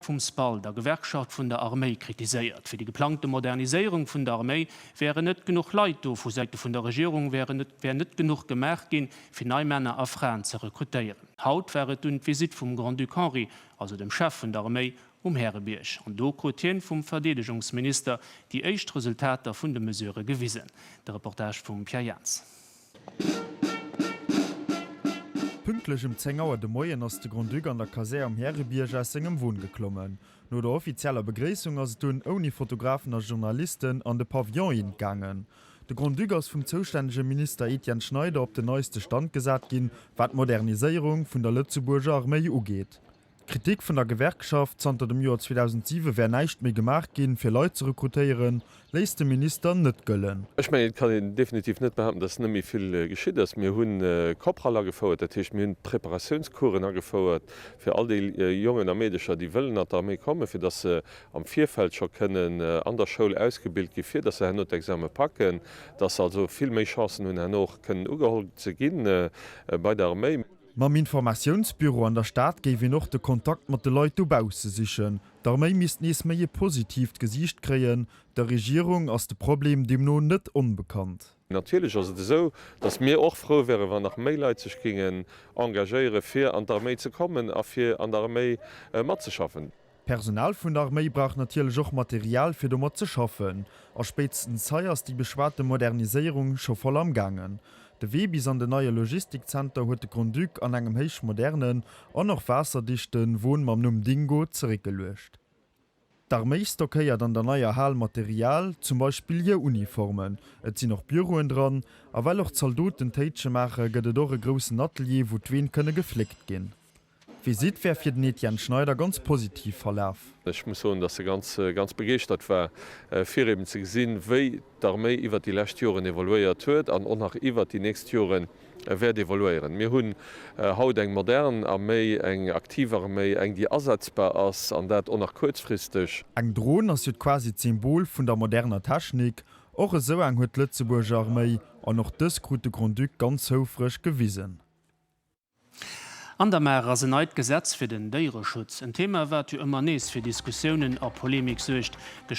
vum SPAL, der Gewerkschaft vun der Arméi, kritiséiert. Fir déi geplangte Moderniséierung vun der Arméi wären net genuch Leit do. Vu Säite vun der Regierung wär net genuch gemaach ginn, fir nei Männer a Fraen ze rekrutéieren. Haut war et dunn d'Visitt vum Grand-Duc Henri, also dem Chef vun der Arméi, um Härebierg. An do krut hien vum Verdeedegungsminister déi éischt Resultater vun de Mesurë gewisen. De Reportage vum Pierre Jaentz. Pünktlech um 10 Auer de Moien ass de Grand-Duc an der Kasär um Härebierg aus sengem Won geklommen. No der offizieller Begréissung ass et dunn ouni Fotografen a Journalisten an de Pavillon in gaangen. De Grand-Duc ass vum zoustännege Minister Etienne Schneider op den neiste Stand gesat ginn, wat d'Moderniséierung vun der Lëtzebuurger Arméi ugeet. Kritik vun der Gewerkschaft, Zanter dem Joer 2007 wär näischt méi gemaach ginn, fir Leit ze rekrutéieren, léisst de Minister net gëllen. Ech mengen, et kann een definitiv net behaupten, dass net méi vill geschitt ass. Mir hu Kopral agefouert, dat heescht, mir hunn Preparatiounscoursen agefouert fir all déi Jongen a Meedecher, déi wëllen an d'Arméi kommen, fir dass se am Virfeld scho kënnen an der Schoul ausgebilt ginn, fir dass se herno d'Exame packen, dass se also vill méi Chancen hunn, herno och kënnen ugeholl ze gi bei der Arméi. Mam Informatiounsbüro an der Stad géif een och de Kontakt mat de Leit dobausse sichen. D'Arméi misst nees méi e positiivt Gesiicht kréien. Der Regierung ass de Problem deemno net onbekannt. Natierlech ass et esou, datt mir och frou wären, wann nach méi Leit sech géingen engagéieren, fir an d'Arméi ze kommen a fir an der Arméi matzeschaffen. D'Personal vun der Arméi brauch natierlech och Material fir domat ze schaffen, a spéitstens hei ass déi beschwate Moderniséierung scho voll am gaangen. De Wee bis an den neie Logistikzenter huet de Grand-Duc an engem héich modernen an och waasserdichte Won mam Numm Dingo zeréckgeluecht. D'Arméi stockéiert an der neier Hal Material, zum Beispill hir Uniformen, et sinn och Büroen dran, a well och d'Zaldoten Téitsche maache gëtt et och e groussen Atelier wou d'Ween kënne gefléckt ginn. D'Visitt wär fir den Etienne Schneider ganz positiv verlaf. Ech muss soen, datt e ganz ganz begeeschtert war, fir eben ze gesinn, wéi d'Arméi iwwert déi lescht Joren evoluéiert huet an och nach iwwert déi nächst Jore wäert evoluéieren. Mir hunn haut eng modern Arméi, eng aktiv Arméi, eng, déi asetzbar ass, an dat och nach kuerzfristeg. Eng Dron ass jo quasi d'Symbol vun der moderner Technik. Och esou eng huet d'Lëtzebuurger Arméi, an och dës krut de Grand-Duc ganz houfreg gewisen. An der Maach ass en neit Gesetz fir den Déiereschutz. En Thema, wat jo ëmmer nees fir Diskussiounen a Polemik suergt. De.